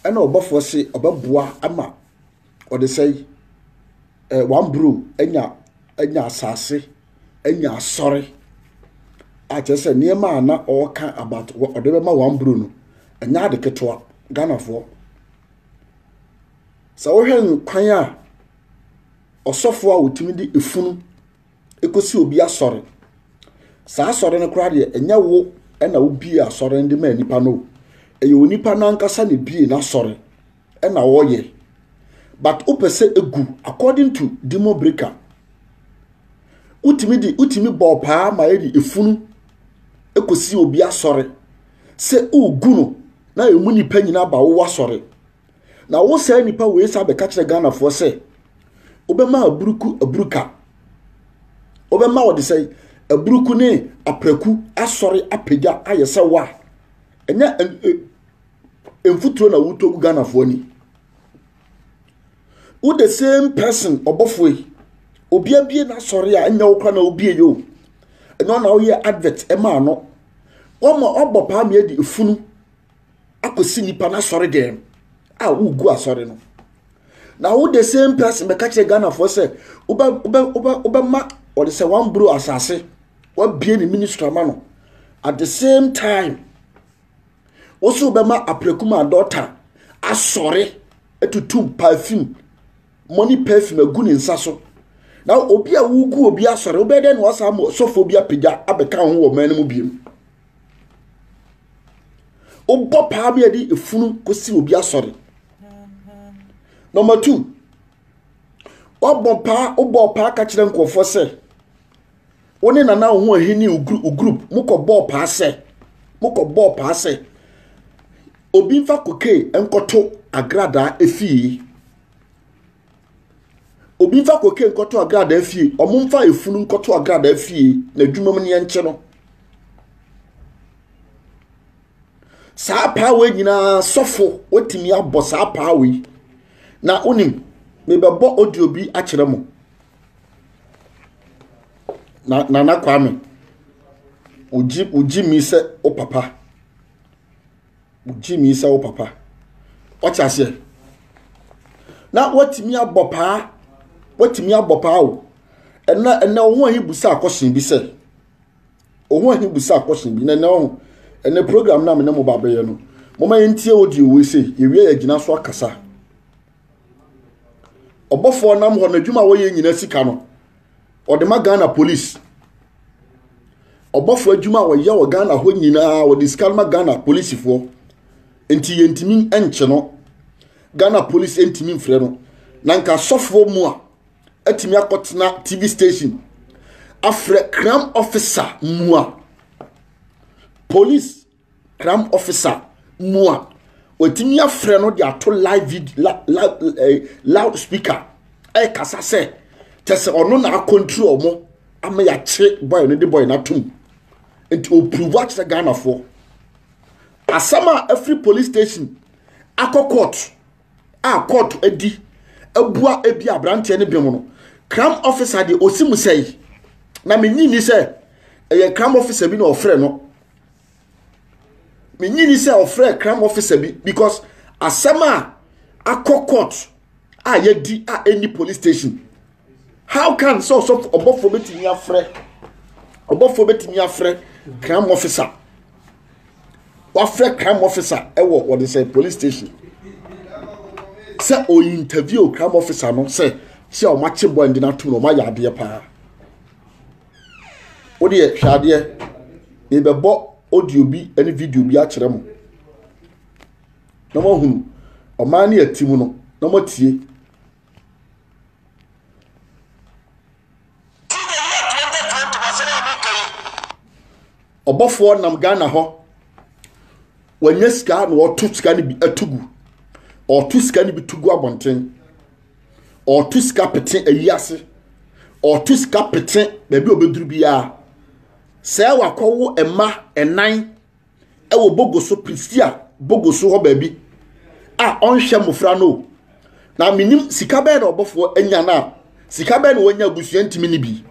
Ɛna ɔbɔfoɔ se ɔbɛboa ama ɔde sɛe eh, one bro anya anya asase anya asɔre akyerɛ sɛ nneɛma a na ɔreka about ɔde bɛma one bro no ɛnyɛ ade ketewa ghanafoɔ sɛ wohwɛ nkwan a ɔsɔfoɔ a wɔtumi de efunu ɛkɔsi obi asɔre saa asɔre no koraa deɛ ɛnyɛ wo ɛna wobie asɔre no de ma nipa no ɛyɛ onipa no ankasa na ebie n'asɔre ɛna ɔyɛ but wopɛ sɛ egu according to demo breaker wotumi de wotumi bɔ paa ma ɛde efunu ɛkɔsi obi asɔre sɛ wogu no na emu nipa nyinaa ba wo asɔre Na wo saa nipa wei sa bɛka kyerɛ Ghanafoɔ sɛ wobɛma aburuku aburuka wobɛma wɔde sɛ aburuku ne apraku asɔre apagya ayɛ sɛ wo a ɛnyɛ mfuturo na wotɔ gu Ghanafoɔ ani wo the same person ɔbɔfoɔ yi obi abie n'asɔre a ɛnyɛ wo kora na wobie yɛ o ɛnyɛ ɔna woyɛ advert ɛmaa no wɔma ɔbɔ paa mmiɛ de efunu akɔsi nnipa no asɔre dɛm a wogu asɔre no na wo the same person bɛka kyerɛ ghanafoɔ sɛ wobɛma ɔde sɛ one bro asase wabie ne ministry ama no at the same time wo so wobɛma apirakum adɔta asɔre atutu perfume money perfume agu ne nsa so na obi a wogu obi asɔre wobɛyɛ dɛ na wasa sɔfoɔ bi apagya abɛka ho wɔ ɔman no mu biom wobɔ paa bi a de efunu kosi obi asɔre number two wabɔ paa wobɔ paa ka kyerɛ nkurɔfoɔ sɛ wo ne nana wo ho ahini wo group mokɔ bɔɔ paa sɛ mokɔ bɔɔ paa sɛ obi nfa kokee nkɔto agradaa efie Obi mfa koke nkɔto agradaa fie, wɔmfa efunu nkɔto agradaa fie na adwuma mu neɛ nkye no. Saa paawe nyinaa sɔfo wotumi abɔ saa paawe na wonim mebɛbɔ audio bi akyerɛ mo. Na Nana Kwame, wogye wogye mi sɛ wo papa. Wogye me sɛ wo papa. Ɔte aseɛ. Na watumi abɔ paa. Watumi abɔ paa o. Ɛnna ɛnna ɔho ahi busa akɔhyɛn bi sɛ. Ɔho ahi busa akɔhyɛn bi. Na ɛnna ɔho ɛnna program na mene mo ba bɛyɛ no. Moma yɛntie audio wei sɛ yɛwie yɛgyina so akasa. ɔbɔfoɔ nam hɔ n'adwuma a wɔyɛ nyina sika no ɔde ma ghana police ɔbɔfoɔ adwuma a wɔyɛ wɔ ghana hɔ nyinaa wɔde sika no ma ghana polisifoɔ nti yɛntumi nkye no ghana police ntumi mfrɛ no na nka sɔfoɔ mu a atumi akɔtena tv station afrɛ cram officer mu a police cram officer mu a wɔatumi afrɛ no de ato live video la la ɛɛ eh, loud speaker ɛrekasa sɛ kyɛ sɛ ɔno na akɔntiri wɔn ama yɛakye bɔyɛ no de bɔyɛ no atom nti ɔpuruvu akyerɛ ghanafoɔ asɛm a afiri police station akɔ court a court adi abua ebi aberanteɛ no bɛn mu no cram officer deɛ ɔsi mu sɛe na menyi ni sɛ ɛyɛ cram officer bi na ɔfrɛ no menye ni sɛ ɔfrɛ crime officer bi because asɛm a akɔ court a yɛdi a ɛni police station how can sɛ ɔsɔfo ɔbɔfoɔ bɛtumi afrɛ ɔbɔfoɔ bɛtumi afrɛ crime officer wafrɛ crime officer ɛwɔ wɔde sɛ police station sɛ o interview crime officer no sɛ sɛ ɔmo akye bɔ ɛndi n'atum na ɔmo ayɛ adeɛ paa. Wo deɛ hwɛ adeɛ, mebɛbɔ audio bi ne video bi akyerɛ mo na moahunu ɔman ne ati mu no na moatie. ɔbɔfoɔ nam ghana hɔ wɔnyɛ sika na ɔto sika no bi atugu ɔto sika no bi tugu abɔnten ɔreto sika pete ayi ase ɔreto sika pete baabi a ɔbɛduru biara sɛ wakɔwo mma ɛnan ɛwɔ bogo so prisia bogo so hɔ baabi a ɔnhwɛ mmɔfra no na menim sika bɛɛ na ɔbɔfoɔ anya no a sika bɛɛ na wɔanya abusua ntumi no bi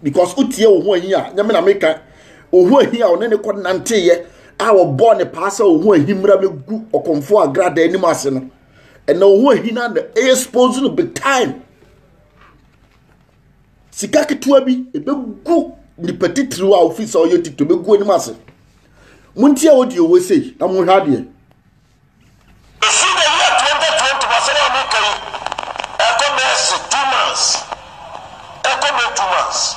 because wotie wo ho ahi a nyame na meka wo ho ahi a ɔne ne kɔ nanteeɛ a wɔbɔɔ ne paa sɛ wo ho ahi mmra mɛgu ɔkɔmfoɔ agrada anim ase no ɛna wo ho ahina na expose no big time sika ketewa bi ɛbɛgu nipa titiriw a ofiri sɛ ɔyɛ titiriw bɛgu anim ase mo nti a wɔdi owó sei na mo hwɛ adeɛ. esi de yɛ twenty twenty wasɛm a meka yi ɛkɔ mɛsi two months ɛkɔ mɛ two months.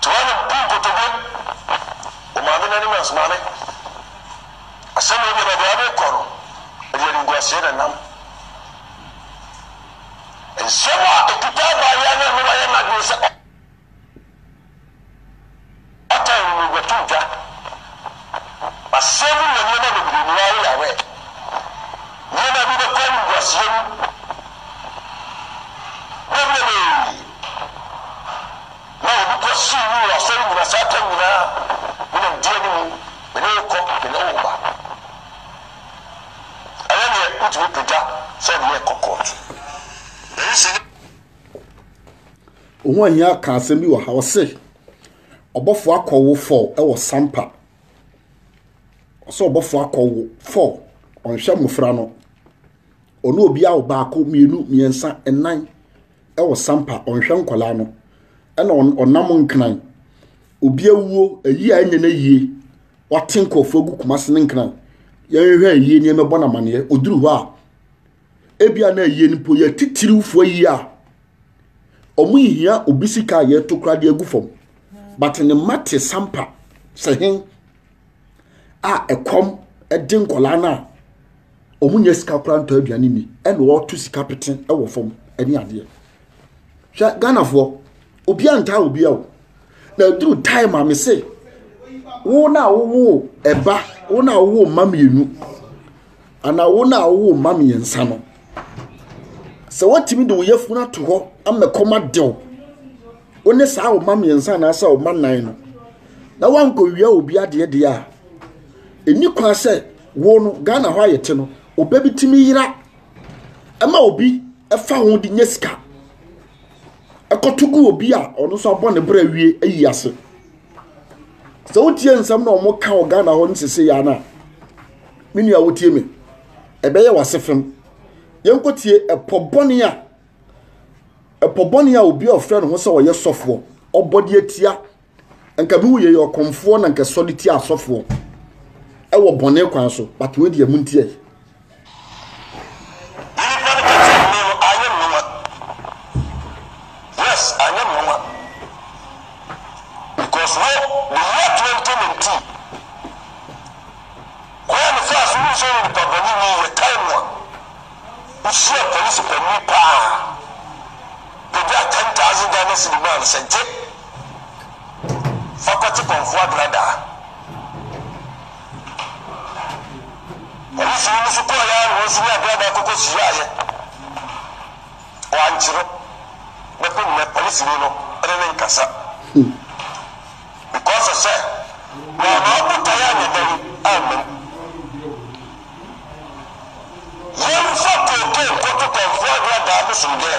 Toa no bu nkotodwe wɔ maame no anim na se, Maame, asem wei deɛ baabi a wode rekɔ no, ɛde animguaseɛ na ɛnam. Nsem a ɛkuta abaayewa no a na wayɛ n'adwene sɛ ɔtɛn no no bɛto dwa. Asem no yɛ nneɛma bebree mu ara, woyɛ aware. Nneɛma bi bɛkɔ animguaseɛ mu bebrebee. Na obi kɔ sii no wɔ asɔre nyina saa tam nyinaa, me na medi anim, me ne wo kɔ, me ne wo ba. Ɛyɛ neɛ wotumi pagya sɛ ɔde yɛ kɔ kɔɔto. Ɛyi sɛ nyɛ. Ohun Ahia ka asɛm bi wɔ ha, ɔse ɔbɔfo akɔ wo fɔw ɛwɔ sampa. Ɔsɛ ɔbɔfo akɔ wo fɔw, ɔnhwɛ mmofra no. Ɔne obi awo baako, mmienu, mmiɛnsa, nnan. wɔ sampa ɔnhwɛ nkwadaa no ɛna ɔnam nkran obi awuo ayi a ɛnyɛ n'ayie wate nkurɔfoɔ agu kumase ne nkran yɛnhwɛ ayie nneɛma ɛbɔ no amaneɛ ɔduru hɔ a ebia na ayie no mpo yɛ titiriwfoɔ ayie a ɔmo nhia obi sika a yɛto koraa de agu fam but ne mma te sampa sɛ hen a ɛkɔm ɛde nkwadaa no a wɔn nyɛ sika koraa ntɔ aduane ni ɛna wɔto sika pete wɔ fam ɛne adeɛ hwɛ ghanafoɔ obiara ntaa obiara o na aduru time a mese wo na wowo ɛba wo na wowo mma mmienu anaa wo na wowo mma mmiɛnsa no sɛ wɔtumi de wo yafunu ato hɔ ama kɔma dew wo ne saa wo mma mmiɛnsa anaasɛ wo mma nan no na wankɔwia obi adeɛ deɛ a ɛni kwan sɛ Wo no, Ghana hɔ a yɛte no, ɔbɛ bi tumi yera ma obi fa ho de nya sika. Ɛkɔto gu obi a ɔno nso abɔ ne bra wie ayi ase. Sɛ wotie nsɛm na wɔn ka wɔ Ghana hɔ no sese yɛ ana? Me nua wotie me. Ɛbɛyɛ wase fam. Yɛnkɔ tie ɛpɔ bɔne a ɛpɔ bɔne a obi a ɔfrɛ ne ho sɛ ɔyɛ sɔfoɔ ɔbɔ de atia nka bi yɛ ɔkɔmfoɔ na nka sɔre tia asɔfoɔ ɛwɔ bɔne kwan so but wei deɛ mu ntiɛ Yes, I know. Fa kɔ te pɔnkɔ abena daa. Ɔno fii no so kɔɔeɛ ara na ɔnso ne abena daa kɔkɔ hyiaaeɛ. Wankye no bɛko nnɛ ɔne sini no ne ne nkasa. Because of sɛ wamma ɔbotaeɛ anyɛ dɛn ammam. Yɛnfa cocaine nkɔto pɔnkɔ abena daa bosom dɛɛ.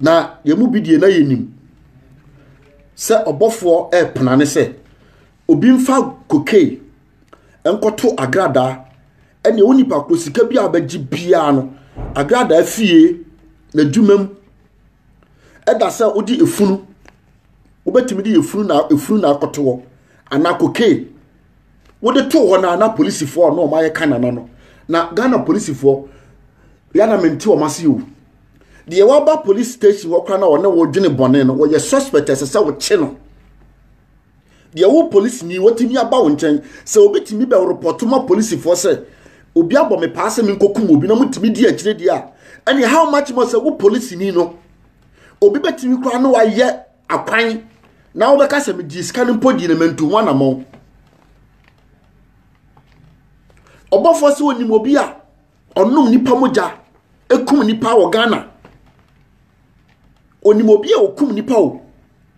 Na yɛn mu bi deɛ na yɛnim sɛ ɔbɔfoɔ repena ne sɛ obi mfa kokei nkɔto agradaa ɛne wo nipa koro sika bi a bɛgye biara no agradaa fie n'adwuma mu ɛda sɛ wode efunu wobɛtumi de efunu na efunu na akɔto hɔ anaa kokei wode to hɔ na na polisifoɔ a na wɔayɛ kanana no na ghana polisifoɔ yɛn na mente wɔn ase o. deɛ waba police station hɔ koraa na ɔne wo dwene bɔne no wɔyɛ suspect ɛsɛ sɛ wokye no deɛ wo police ni wɔtumi aba wo nkyɛn sɛ obi tumi bɛ repɔto ma polisifoɔ sɛ obi abɔ me paa sɛ menkɔkum obi na motumi di akyire deɛ a ɛne how much more sɛ wo police ni no obi bɛtumi koraa na wayɛ akwan na wobɛka sɛ medi sika no mpo di no mantu ho anammɔn ɔbɔfoɔ sɛ onim obi a ɔnom nipa mogya ekum nipa wɔ ghana onim obi a okum nipa o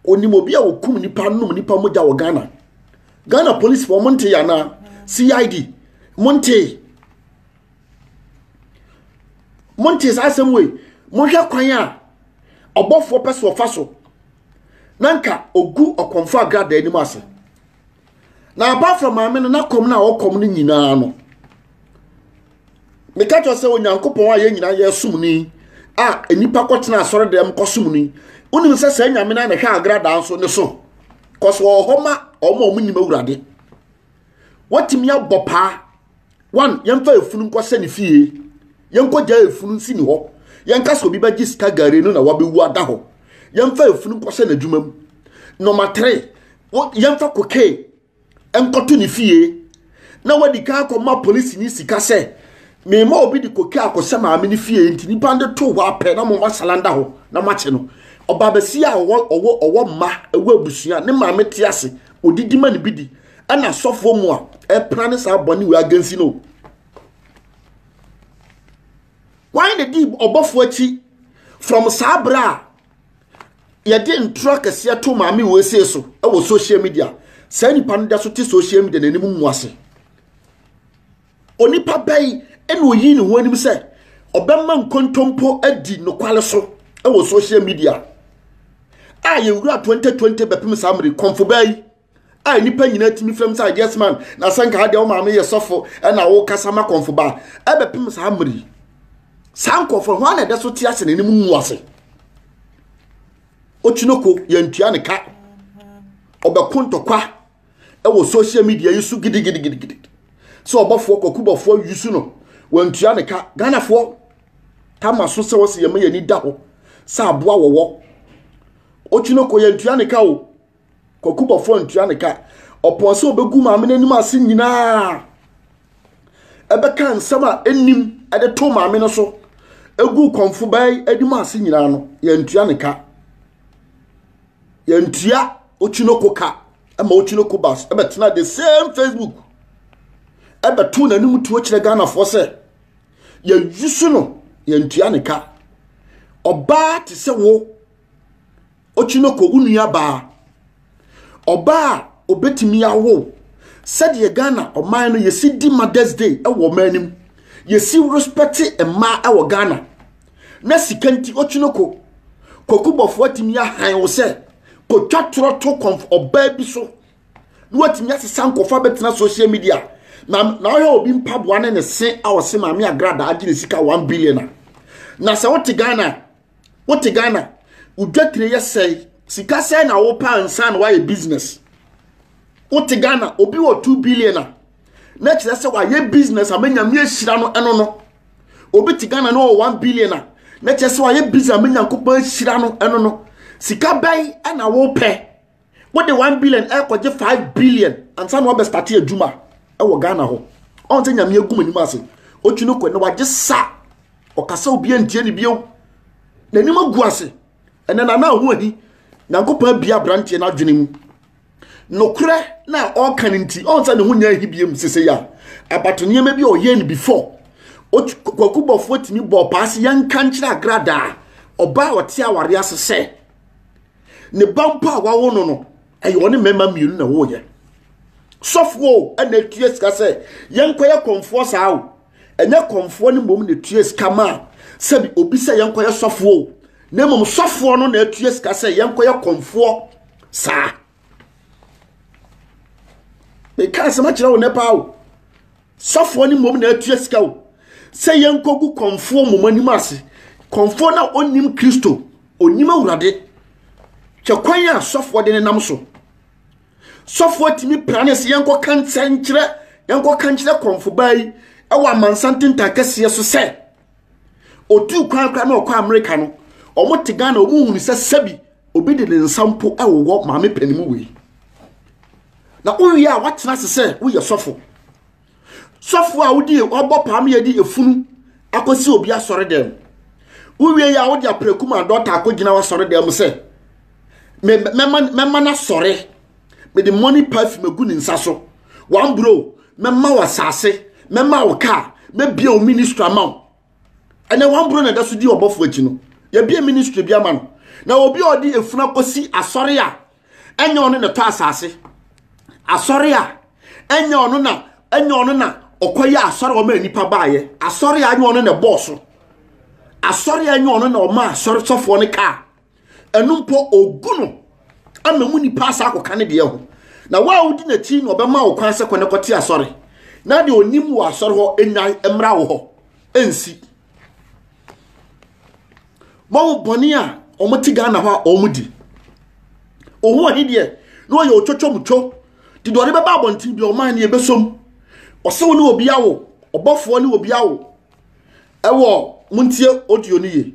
onim obi a okum nipa nom nipa mogya wɔ ghana ghana police fo ɔmo nte yɛ anaa cid mo nte mo nte saa asɛm wei mo hwɛ kwan a ɔbɔfoɔ pɛ so ɔfa so na nka ogu ɔkɔmfo agrada anim ase. na apart from maame no na kɔm no a ɔkɔm no nyinaa no meka kyerɛ sɛ onyankopɔn a yɛn nyinaa yɛsom ni a nnipa kɔtena asɔre dɛm kɔsom ni wonim sɛ saa nyame no a na hwɛ agradaa nso ne so kɔso wɔ hɔ ma ɔma ɔmo nim awurade watumi abɔ paa One, yɛmfa efunu nkɔ sɛ ne fie. Yɛnkɔ gyaa efunu nsi ne hɔ. Yɛnka sɛ obi bɛgye sika gare no na wabewu ada hɔ. Yɛmfa efunu nkɔ sɛ n'adwuma mu. Nɔma tere, yɛmfa kokee nkɔto ne fie. Na wadi kan akɔma polisi ne sika sɛ mema obi de kokee akɔsɛ maame ne fie nti nipa de to hɔ apɛ na moma salanda hɔ na makye no. Ɔbaabasia a ɔwɔ ɔwɔ ɔwɔ mma ɛwɔ abusua ne maame te ase odidi ma ne bi di. Ɛna asɔfoɔ mu a ɛpena ne saa bɔne wei agensi no. Wan na di ɔbɔfoɔ akyi from saa berɛ a yɛde ntoro akɛseɛ to maame wei see so wɔ social media saa nipa no da so te social media n'anim mu ase onipa bɛyi ɛna oyi ne ho anim sɛ ɔbɛma nkontompo adi nokwale so wɔ social media a yɛwura 2020 bɛpem saa mmere kɔmfo bɛyi a nnipa nyinaa tumi fam sɛ yes man na sɛ nka adeɛ wo maame yɛ sɔfo ɛna wokasa ma kɔmfo ba ɛbɛpem saa mmere yi saa nkɔmfo ho ana ɛdɛ so te ase na anim ngu ase okyinoko yɛntua ne ka ɔbɛko ntɔkwa ɛwɔ social media yi so gidigidigidi sɛ ɔbɔfoɔ kɔkubɔfoɔ yusu no wɔntua ne ka ghanafoɔ tama so sɛ wɔsɛ yɛma yɛni da hɔ sɛ aboa wɔwɔ okyinoko yɛntua ne ka o Kwaku bɔfoɔ ntua ne ka. Ɔpɔn sɛ ɔbɛgu maame no anim ase nyinaa ɛbɛka nsɛm a ɛnnim ɛde to maame no so ɛgu kɔmfo baa yi anim ase nyinaa no yɛntua ne ka. Yɛntua Ochinoko ka ɛma Ochinoko bas ɛbɛtena the same Facebook ɛbɛto n'anim tuo kyerɛ Ghanafoɔ sɛ yɛyusu no yɛntua ne ka. Ɔbaa te sɛ wo Okyi no kɔ wo nua baa. Ɔbaa a obetumi awo sɛdeɛ Ghana ɔman no yɛsi di Mother's Day wɔ ɔman no mu. Yɛsi respɛte mmaa wɔ Ghana. Na sika nti okyi no kɔ. Kwaku bɔfoɔ atumi ahan wo sɛ kɔtwa torɔ to kɔnf ɔbaa bi so na watumi asesa nkɔfa bɛtena social media na na ɔhwɛ obi mpaboa ne ne se a ɔse maame agradaa agye ne sika 1 billion a na sɛ wote Ghana wote ghana wodwatire yɛ sɛe sika sɛe na wopɛ ansa na woayɛ business wote ghana obi wɔ 2 billion a na kyerɛ sɛ wayɛ business ama nyame ahyira no ɛno no obi te ghana na ɔwɔ 1 billion a na kyerɛ sɛ wayɛ business ama nyankopɔn ahyira no ɛno no sika bɛn na wopɛ Wode one billion ɛkɔgye five billion ansa na wabɛ starte adwuma ɛwɔ Ghana hɔ. Ɔn sɛ nyame agum anim ase. Ɔtwi no kɔ na wagye sa. Ɔkasa obi antie ne bio. N'anim agu ase. Ɛnɛ na na ho ahi. Nyankopɔn abia abranteɛ no adwene mu. Nokorɛ na ɔka no nti ɔn sɛ ne ho nya ahi biam sese ya. Abato nneɛma bi a ɔyɛ no before. Kwaku bɔfoɔ tumi bɔɔ paa se yɛnka nkyerɛ agradaa ɔbaa ɔte awareɛ ase sɛ ne ba mpo a wawo no no ɛyɛ ɔne mmarima mmienu na wɔyɛ sɔfoɔ ɛna etua sika sɛ yɛnkɔyɛ kɔnfoɔ saa o ɛnyɛ kɔnfoɔ no mmom na etua sika ma sɛbi obi sɛ yɛnkɔyɛ sɔfoɔ o na mmom sɔfoɔ no na etua sika sɛ yɛnkɔyɛ kɔnfoɔ saa meka asɛm akyerɛ wo nɛ paa o Sɔfoɔ no mmom na atua sika o sɛ yɛnkɔgu kɔmfoɔ mmom anim ase. Kɔmfoɔ no a ɔnnim Kristo, ɔnnim Awurade. Hwɛ kwan a sɔfoɔ de nenam so. Sɔfoɔ tumi pra ne sɛ yɛnkɔka nsɛnkyerɛ, yɛnkɔka nkyerɛ kɔmfobaa yi ɛwɔ amansan tentan kɛseɛ so sɛ, ɔtuu kwan koraa na ɔkɔ amerika no ɔmo te ghana ɔmo hunu sɛ sɛbi obi de ne nsa mpo ɛwowɔ maame panin mu wei na wowie a woatena ase sɛ woyɛ sɔfo sɔfo a wodi ɔbɔ paa ma yɛde efunu akɔsi obi asɔre dɛm wowie yɛ a wode apreku ma dɔta akɔgyina w'asɔre dɛm sɛ mɛma no asɔre mede morning perfume agu ne nsa so one bro mɛma wo asase mɛma wo kaa mɛbia wo ministry ama wo ɛnɛ one bro na ɛda so di ɔbɔfo akyi no yɛbia ministry bi ama no na obi a ɔde efunu akɔsi asɔre a ɛnyɛ ɔno na ɛtɔ asase asɔre a ɛnyɛ ɔno na ɛnyɛ ɔno na ɔkɔyɛ asɔre a ɔma nipa baayɛ asɔre a ɛnyɛ ɔno na ɛbɔɔ so asɔre a ɛnyɛ ɔno na ɔma asɔre sɔfoɔ no kaa ɛno mpo ogu no ama mu nipa asa akɔka ne deɛ ho na wo a wodi n'akyi na ɔbɛma wo kwan sɛ kɔ ne kɔte asɔre na deɛ onim wɔ asɔre hɔ nnyae mmra wo hɔ ɛnsi wɔn bɔne a wɔn te ghana hɔ a wɔn di wɔn ho ɔhe deɛ na ɔyɛ otwotwomtwo de deɛ ɔde bɛba abɔnten bi ɔman ne ɛbɛsom ɔsɛ wo ne obi awo ɔbɔfoɔ ne obi awo ɛwɔ montie audio no yie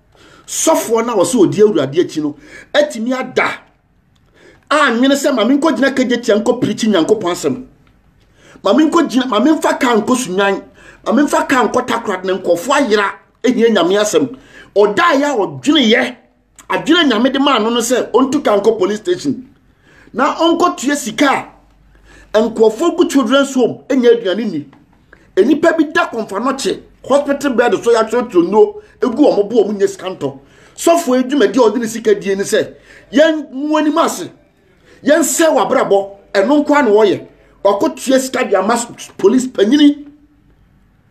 sɔfoɔ no a wɔsɛ ɔdi awurade akyi no atumi ada anwene sɛ ma menkɔgyina kagyatia nkɔ pirikyi nyankopɔn asɛm ma menkɔgyina ma memfa ka nkɔ sunwan ma memfa ka nkɔ takorad na nkɔfoɔ ayera ɛhia nyame asɛm ɔdaeɛ a ɔdweneyɛ adwene nyame de maa no no sɛ ɔntu ka nkɔ police station na ɔnkɔtua sika a nkurɔfoɔ gu children's home nya aduane nni. Nnipa bi da kɔmfanɔkye hospital bed so yɛatwerɛtwerɛ nnuro gu wɔn bo wɔn nyɛ sika ntɔ. Sɔfoɔ yi dwumadi a ɔde ne sika die ne sɛ yɛn mu anim ase yɛn sɛ wabrabɔ ɛno nkoa na wɔyɛ ɔkɔtua sika de ama police panyini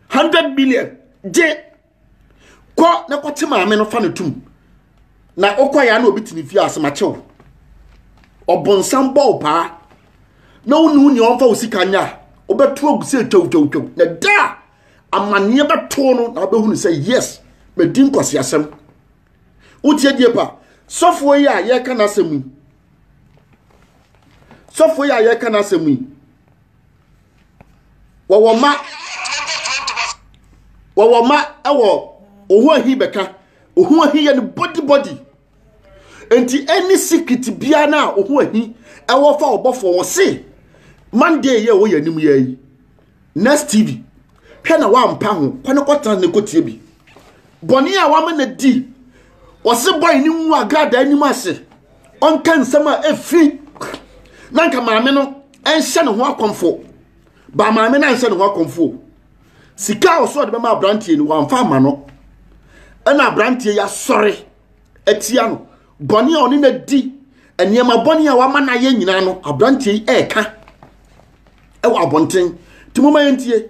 100 million gye kɔ na kɔte maame no fa no tum na wokɔ ya na obi te ne fie ase makye wo ɔbonsam bɔ wo paa na wo ne wo nea ɔmfa wo sika nya a wobɛto agu sɛ twawtwawtwaw na da a amanneɛ bɛtoo no na wobɛhunu sɛ yes madi nkɔseasɛm wotie die pa sɔfoɔ yi a yɛreka no asɛm yi sɔfoɔ yi a yɛreka no asɛm yi wɔwɔ mma wɔwɔ mma wɔ ɔho ahi bɛka ɔho ahi yɛ no body body nti ɛne secret biara no a ɔho ahi ɛwɔ fa ɔbɔfoɔ wɔ se monday yɛ wɔ yɛ anim yɛ yi next tv hwɛ na wampa ho kɔ ne kɔtena ne kɔtie bi bɔne a wama no di ɔse bɔe ne nwu agradaa anim ase ɔnka nsɛm a ɛfiri na nka maame no ɛnhyɛ ne ho akɔmfo ba maame no anhyɛ ne ho akɔmfo sika a ɔsɔ ɔde bɛma aberanteɛ no wamfa ama no ɛna aberanteɛ yɛasɔre atia no bɔne a ɔne no di nneɛma bɔne a wama no ayɛ nyinaa no aberanteɛ yi ɛreka ɛwɔ abɔnten nti moma yɛntie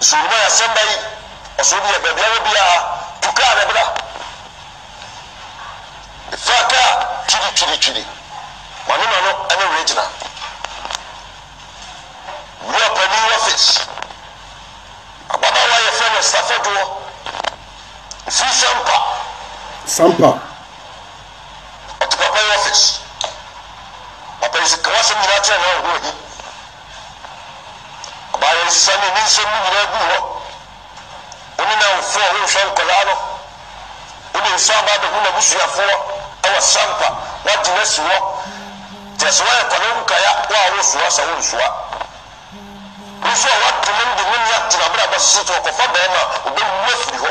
So wobɔ yasɛm da yi ɔso obi yɛ baabi awɔ biaa tu kaa ne bra fa kaa twidi twidi twidi mano mano ɛne werɛ gyina wura pani wafis ababaawa yɛfrɛ no safa doɔ ofiri sampa sampa ɔte papa wafis papa yi sɛ kawasɛm nyinaa kyerɛ na ɔho ahi Ɔbaa yɛ nsesa ne ne nsɛm no nyinaa guu hɔ. Wo ne n'awofo a wɔrehwɛ nkwadaa no, wode nsa aba abɛhu n'abusuafoɔ wɔ Sampa, woagye no asi hɔ. Kyerɛ sɛ woayɛ kwane nkaya wo a wosoa sɛ wonsoa. Wo nso a woagye no de no ne atena abrabɔ sese sɛ ɔkɔfa barima a, ɔbɛwu afiri hɔ.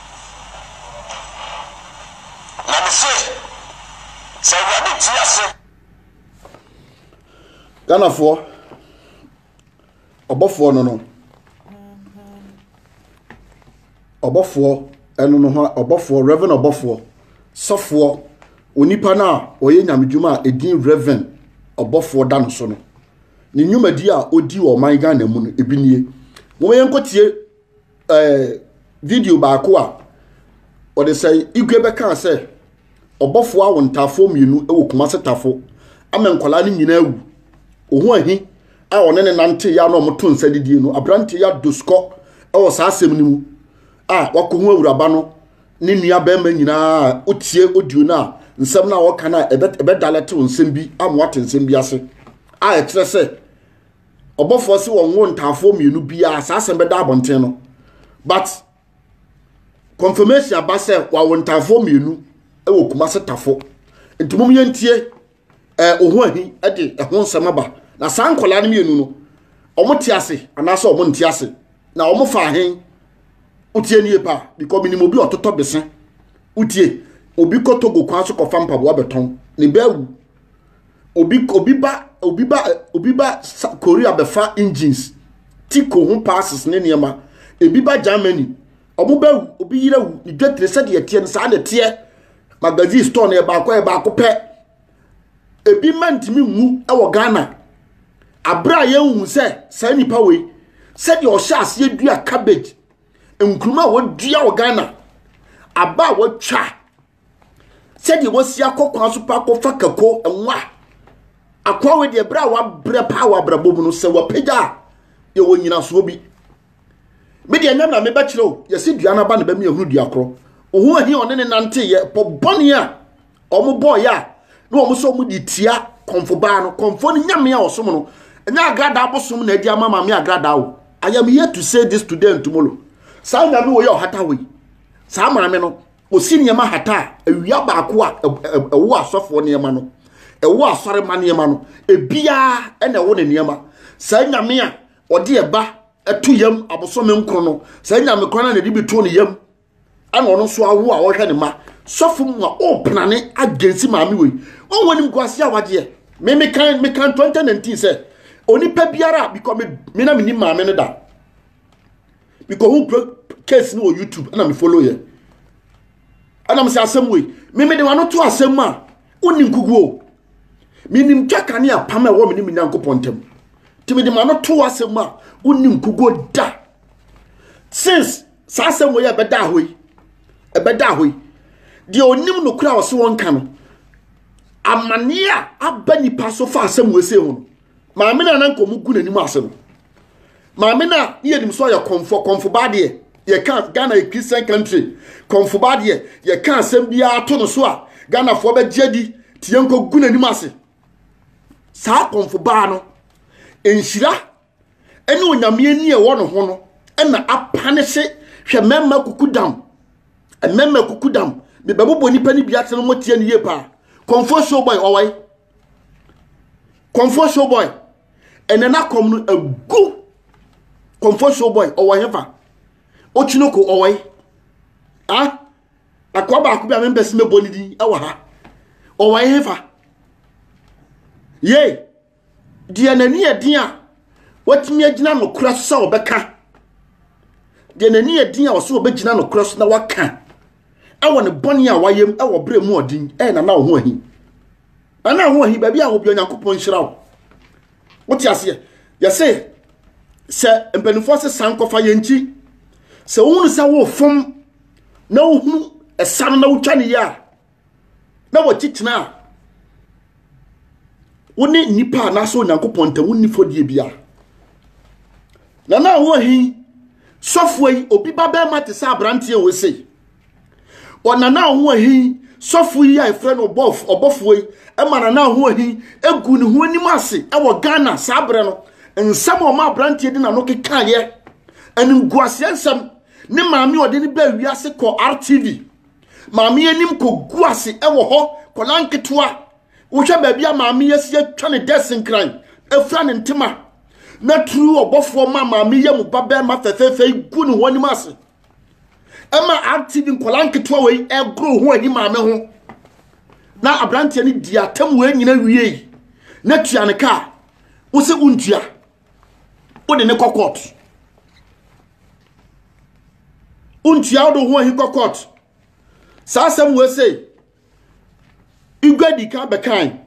Na me se, sɛ Awurade te ase. Ghanafoɔ ɔbɔfoɔ no no ɔbɔfoɔ ɛno no ho ɔbɔfoɔ reverend ɔbɔfoɔ sɔfoɔ onipa no a ɔyɛ nyamedwuma a ɛdin reverend ɔbɔfoɔ da no so no ne nnwumadi a ɔdi wɔ ɔman Ghana mu no ebi nie wɔn yɛn nkɔtie eh, video baako a ɔde sɛ igwe bɛkaa sɛ ɔbɔfoɔ awo ntaafoɔ mmienu wɔ kumase tafo ama nkwadaa no nyinaa awu ɔho ahi a ɔne ne nante yɛ a na ɔmoto nsa didie no aberante yɛ adosukɔ wɔ saa asɛm no mu a wakɔ ho awuraba no ne nua bɛrima nyinaa otie odio no a nsɛm no a ɔka no a ɛbɛdalɛtew nsɛm bi ama wate nsɛm bi ase a ɛkyerɛ sɛ ɔbɔfoɔ se wɔn wo ntaafoɔ mmienu biara saa asɛm bɛda abɔnten no but confirmation aba sɛ wɔawo ntaafoɔ mmienu wɔ kuma se tafo nti mom yɛntie eh, oho ahi de ɛho nsɛm aba na saa nkɔlaa no mmienu no wɔn te ase anaasɛ wɔn nte ase na wɔn fa ahen wotie nie paa because menim obi ɔtotɔ bese wotie obi kɔ togo kwan so kɔfa mpaboa bɛtɔn ne bɛawu Obi obi ba obi ba obi ba Korea bɛfa engines, tiko ho passes ne nneɛma. Ebi ba Germany. Ɔmo bɛ obi yere wu ne dwetire sɛdeɛ ɛteɛ no saa na ɛteɛ. Magazine store no yɛ baako yɛ baako pɛ. Ebi mma ntumi nwu wɔ Ghana. Abere a yɛnhu sɛ saa nipa wei sɛdeɛ ɔhyɛ aseɛ dua cabbage nkuruma a wɔdua wɔ Ghana aba a wɔtwa sɛdeɛ wasi akɔ kwan so pa akɔfa kako nwa akoa wei deɛ berɛ a wabrɛ paa wɔ abrabɔ mu no sɛ wapagya a yɛwɔ nyinasoɔ bi me deɛ nyam na mebɛkyerɛ o yɛsi dua no aba na bɛmi ahunu dua korɔ ohun ahi ɔne ne nante yɛ pɔ bɔne a wɔn bɔɔ yɛ a na wɔn sɛ wɔn de tia kɔnfo baa no kɔnfo no nyame a ɔsom no ɛnyɛ agradaa bosom na ɛdi ama maame agradaa o i am here to say this today and tomorrow saa nyame wɔ yɛ ɔhata wɔ yi saa maame no Osi nneɛma hata a, awia baako a ɛwo asɔfoɔ nneɛma no, ɛwo asɔrema nneɛma no, ebiara na ɛwo ne nneɛma. Saa nyame a ɔde ɛba ɛto yam abosome nkron no, saa nyame kora na n'ani bi to ne yam, ɛna ɔno nso awo a ɔhwɛ ne ma. Sɔfo mu a ɔrepenane agensi maame wei, wɔn wɔn nim guase a wagyeɛ. Me me kan me kan 2019 sɛ onipa biara because me me na me nim maame no da. mekɔhu pro case no wɔ youtube ɛna me follow yɛ ɛna mesɛ asɛm wei memede wano to asɛm mu a wonni nkugu o menim twaka ne apam a ɛwɔ me ne me nyankopɔn ntam nti mede ma no to asɛm mu a wonni nkugu da since saa asɛm wei a ɛbɛda hɔ yi ɛbɛda hɔ yi deɛ ɔnim no kora a ɔse wɔnka no amanneɛ a aba nipa so fa asɛm wei se ho no maame no ananka ɔmu gu n'anim ase no maame no a ne yɛnim so ɔyɛ kɔmfoɔ kɔmfobaa deɛ yɛka ghana yɛ christian country kɔmfobaa deɛ yɛka asɛm biara to no so a ghanafoɔ bɛgye adi te yɛnkɔgu n'anim ase saa kɔmfobaa no nhyira ne onyame ani a ɛwɔ ne ho no ɛna apane se hwɛ mmarima kukudam mmarima kukudam mebɛbobɔ nnipa no bi ate no moteɛ no yie paa kɔmfoɔ showboy ɔwɔe kɔmfoɔ showboy ɛnɛ n'akɔm no agu kɔmfɔsuo bɔe ɔwɔ hefa okyinoko ɔwɔ yi a akoa baako bi a mempɛ sɛ mɛbɔ ne din ɛwɔ ha ɔwɔ yi hefa yei deɛ n'ani yɛ den a watumi agyina nokora so sɛ ɔbɛka deɛ n'ani yɛ den a ɔsɛ ɔbɛgyina nokora so na waka ɛwɔ ne bɔne a wayɛ mu ɛwɔ berɛ mu ɔden ɛyɛ nana wo ho ahi nana wo ho ahi baabi a wɔ bia nyankopɔn nhyira wo wote aseɛ yɛse sɛ mpanimfoɔ se san kɔfa yɛn nkyi sɛ wohunu sɛ wofom na wohunu ɛsa no na wotwa ne yɛ a na wɔkyi tena a wo ne nnipa anaasɛ onyankopɔn ntam wonni fɔdie bia na na wɔ he sɔfoɔ yi obi ba bɛrima te sɛ aberanteɛ wɔ sei ɔnana ho ahi sɔfo yi a yɛfrɛ no ɔbɔf ɔbɔfoɔ yi ɛma nana ho ahi egu ne ho anim ase ɛwɔ ghana saa berɛ no nsɛm a ɔma aberanteɛ de n'ano kekaeɛ animguaseɛ nsɛm ne maame ɔde ne baa wiase kɔ rtv Maame anim kɔgu ase wɔ hɔ, kɔla nketewa. Wohwɛ baabi a maame yɛ si atwa ne dɛs nkran, afira ne ntoma, na turu ɔbɔfoɔ ma maame yɛ mu ba bɛrima fɛfɛɛfɛ yi gu ne ho anim ase. Ɛma RTV nkɔla nketewa wei ɛgoro ho ahi maame ho. Na aberanteɛ no di atam wei nyina wiei, na tua ne kaa, wo se wontua. wode ne kɔ court wontua wode ho ahi kɔ court saa asɛm wɔ sei igwe di ka bɛkan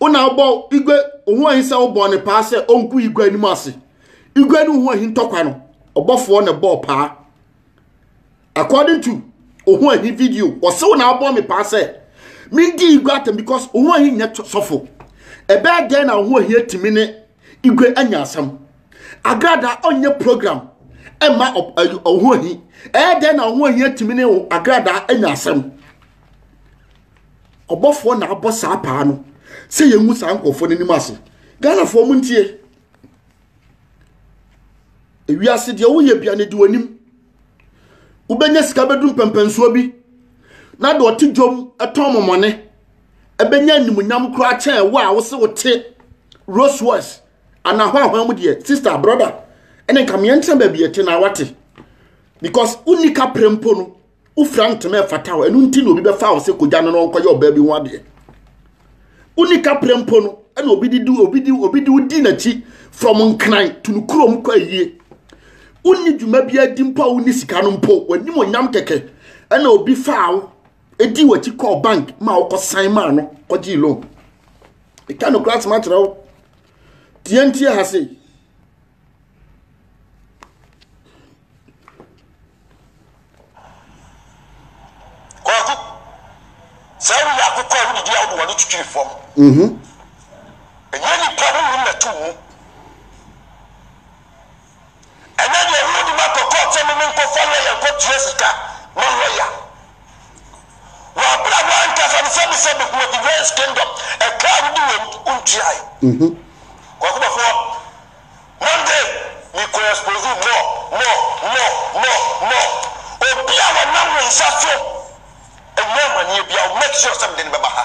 wona wobɔ igwe ho ahi sɛ wobɔ ne paa sɛ ɔnku igwe anim ase igwe ne ho ahi ntɔkwa no ɔbɔfoɔ na bɔɔ paa According to ohun ahi video, ɔsew na abɔ me paa sɛ mendi igwe atam because ohun ahi nyɛ sɔfo. Ɛbɛyɛ dɛn na ohun ahi atumi ne igwe anya asɛm? Agrada ɔnyɛ program ɛma ohun ahi. Ɛyɛ dɛn na ohun ahi atumi ne agrada anya asɛm? Ɔbɔfoɔ na abɔ saa paa no sɛ yɛngu saa nkurɔfoɔ no anim ase. Ghanafoɔ mu ntie. Ewiase deɛ woyɛ bia ne di w'anim. wobɛnya sika bɛduru mpɛmpɛnsoɔ bi na deɛ ɔte dwom tɔn mɔmɔne ɛbɛnya animonyam koraa kyɛn wo a wo se wote Rolls Royce anaa hwanhwan mu deɛ sister brother ɛne nka meɛ ntena baabi ɛte na wate because wonni ka pere mpo no wofira ntoma ɛfata hɔ ɛno nti na obi bɛfa wo sɛ kogya no na ɔnkɔyɛ ɔbaa bi ho adeɛ Wonni kaprɛ mpo no, ɛna obi de di obi de obi de wodi n'akyi from nkran to no kurom kɔ ayie. Wonni dwuma bi adi mpo a wonni sika no mpo, w'anim onyam kɛkɛ ɛna obi faa wo edi w'akyi kɔɔ bank ma wokɔ san maa no kɔgyee loan. Ɛka no kora asɛm akyerɛ wo. Tiantia ha sei. Kwaku, sɛ woyɛ akokɔ a wodidi a wode w'ano twitwiri fam. Mhm. Ɛnyɛ nipa honhom na ɛto wo mu. Ɛnyɛ deɛ wode makɔ kɔɔt sɛ me menkɔfa lɔya nkɔtua sika ma lɔya. Wɔ bere a w'ankasa no sɛ mesɛ megu wɔ Divines Kingdom ɛka a wode wom ntuae. Kwaku Bafoɔ, Monday me kɔ expose wo more, more, more, more, more. Obi a wɔnam wo nsa so anya amaneɛ biara wo make sure sɛ mede no bɛba ha.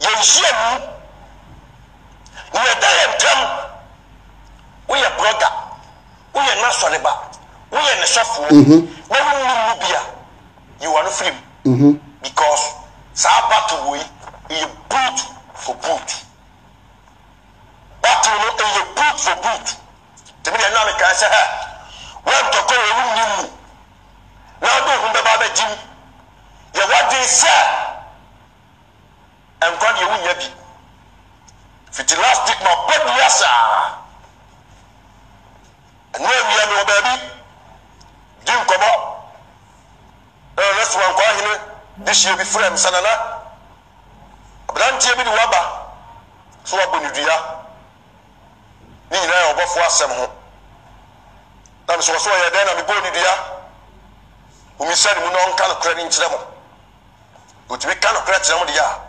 Yɛnhyia mu. Nea ɛda yɛn ntam, Woyɛ brɔda, woyɛ n'asɔreba, woyɛ ne sɔfoɔ, na wonnim mu bi a, yi w'ano firi mu, because saa battle wei, ɛyɛ boot for boot. Battle no, ɛyɛ boot for boot. Nti me deɛ nna mekae sɛ, hɛ, woantɔ kɔɔ a wonnim mu, na wode wo ho bɛba abɛgye mu. Yɛ w'adwene sɛ nkwa deɛ wonnya bi fiti last week ma bɔ dua saa ɛno awia mewɔ baabi di nkɔmɔ na nana soma nkwa ahene dehyeɛ bi frɛ m sɛ nana aberanteɛ bi de waba so wabɔ ne dua Ne nyinaa yɛ ɔbɔfo asɛm ho. Na mesɛ ɔsɛ ɔyɛ dɛn na mebɔɔ ne dua? Mommisa ne mu na ɔnka nokorɛ no nkyerɛ mo. Ɔtumi ka nokorɛ kyerɛ mo deɛ a,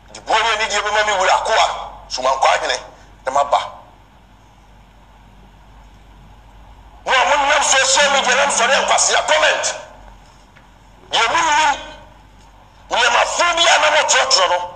mede buo ne anidie bɛma me wura akoa somankwaa hene ne m'aba. Mo a monam social media nam sɔre nkwasea comment deɛ monnim nneɛma fo bi a na motwerɛtwerɛ no,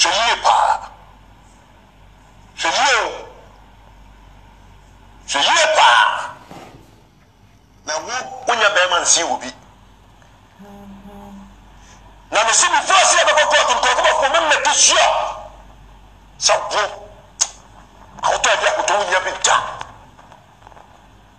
Hwɛ yie paa. Hwɛ yie o. Hwɛ yie paa. Na wo, wonya bɛɛma nsee wɔ bi. Na me se before se yɛbɛkɔ court no nkorɔfo bɛfo me make sure sɛ wo ahotɔ ade akotɔ wonya bi da.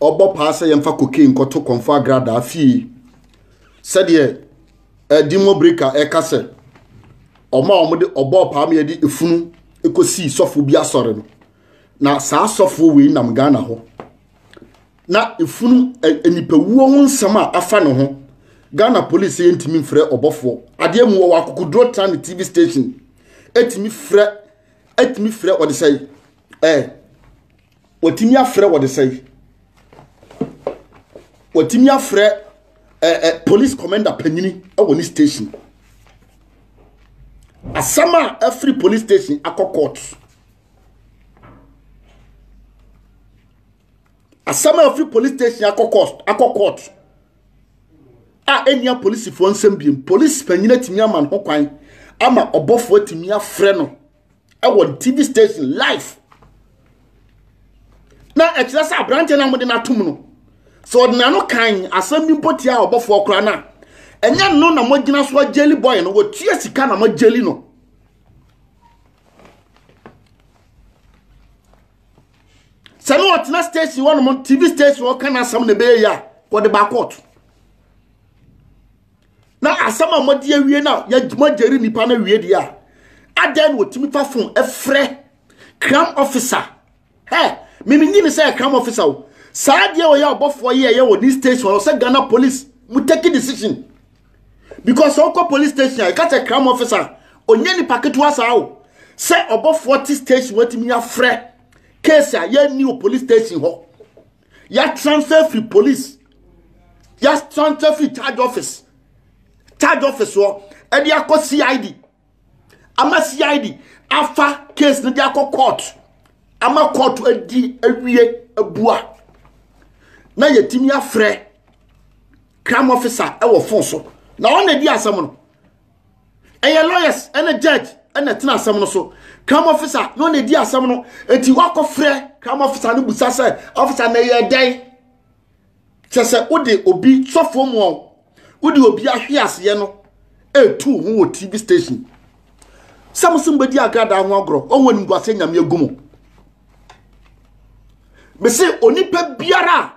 ɔbɔ paa sɛ yɛmfa cocaine nkɔto kɔmfo agradaa fie sɛdeɛ ɛdinmo breka ɛka sɛ wɔn a wɔde ɔbɔɔ paa ma yɛde efunu kɔsii sɔfo bi asɔre no na saa sɔfo wei nam ghana hɔ na efunu nipawuo ho nsɛm a afa ne ho ghana police yɛ ntumi mfrɛ ɔbɔfoɔ adeɛ mu wɔwɔ akokoduro tra ne tv station ɛtumi frɛ ɛtumi frɛ wɔde sɛ ɛɛ. wɔtumi afrɛ wɔde sɛn wɔtumi afrɛ eh, eh, police commander panyini wɔ ne station asɛm a afiri police station akɔ court asɛm a afiri police station akɔ court akɔ court a ɛnnia polisifoɔ nsɛm biem polisi panyini atumi ama no ho kwan ama ɔbɔfoɔ atumi afrɛ no ɛwɔ ne tv station live na ɛkyerɛ sɛ aberanteɛ no a wɔde no atom no sɛ ɔde n'ano kan asɛm bi mpo tia ɔbɔfoɔ koraa no a ɛnyɛ no na mogyina so agyeli boy no wɔtua sika na moagyeli no sɛ ne ɔtena station hɔ nom tv station ɔka no asɛm na ɛbɛyɛ yi a wɔde baakɔɔto na asɛm a mode awie no a moagyeri nnipa no awie deɛ a adɛn na ɔtumi fa fon ɛfrɛ cram officer hɛ memenyi ne sɛ cram officer o saa deɛ ɔyɛ ɔbɔfoɔ yɛ ɛyɛ wɔ ne station ɔsɛ ghana police mu take a decision because sɛ wokɔ police station a ɛka sɛ cram officer ɔnyɛ nipa ketewa saa o sɛ ɔbɔfoɔ te station watumi afrɛ case a yɛnni wɔ police station hɔ yɛatransfer firi police yɛatransfer firi charge office charge office hɔ ɛde akɔ cid ama cid afa case no de akɔ court ama court adi awie abua na yɛtumi afrɛ crime officer ɛwɔ fon so na ɔna di asɛm no ɛyɛ lawyers ɛna judge ɛna ɛtena asɛm no so crime officer na ɔna ɛdi asɛm no eti wakɔ frɛ crime officer no busa sɛ officer na ɛyɛ dɛn kyɛ sɛ wode obi sɔfoɔ mu ɔ wode obi ahwe aseɛ no ɛtu ho wɔ tv station sɛ mo so mbɛdi agradaa ho agorɔ ɔwɔ animguaseɛ nyame agu mu mese onipa biara a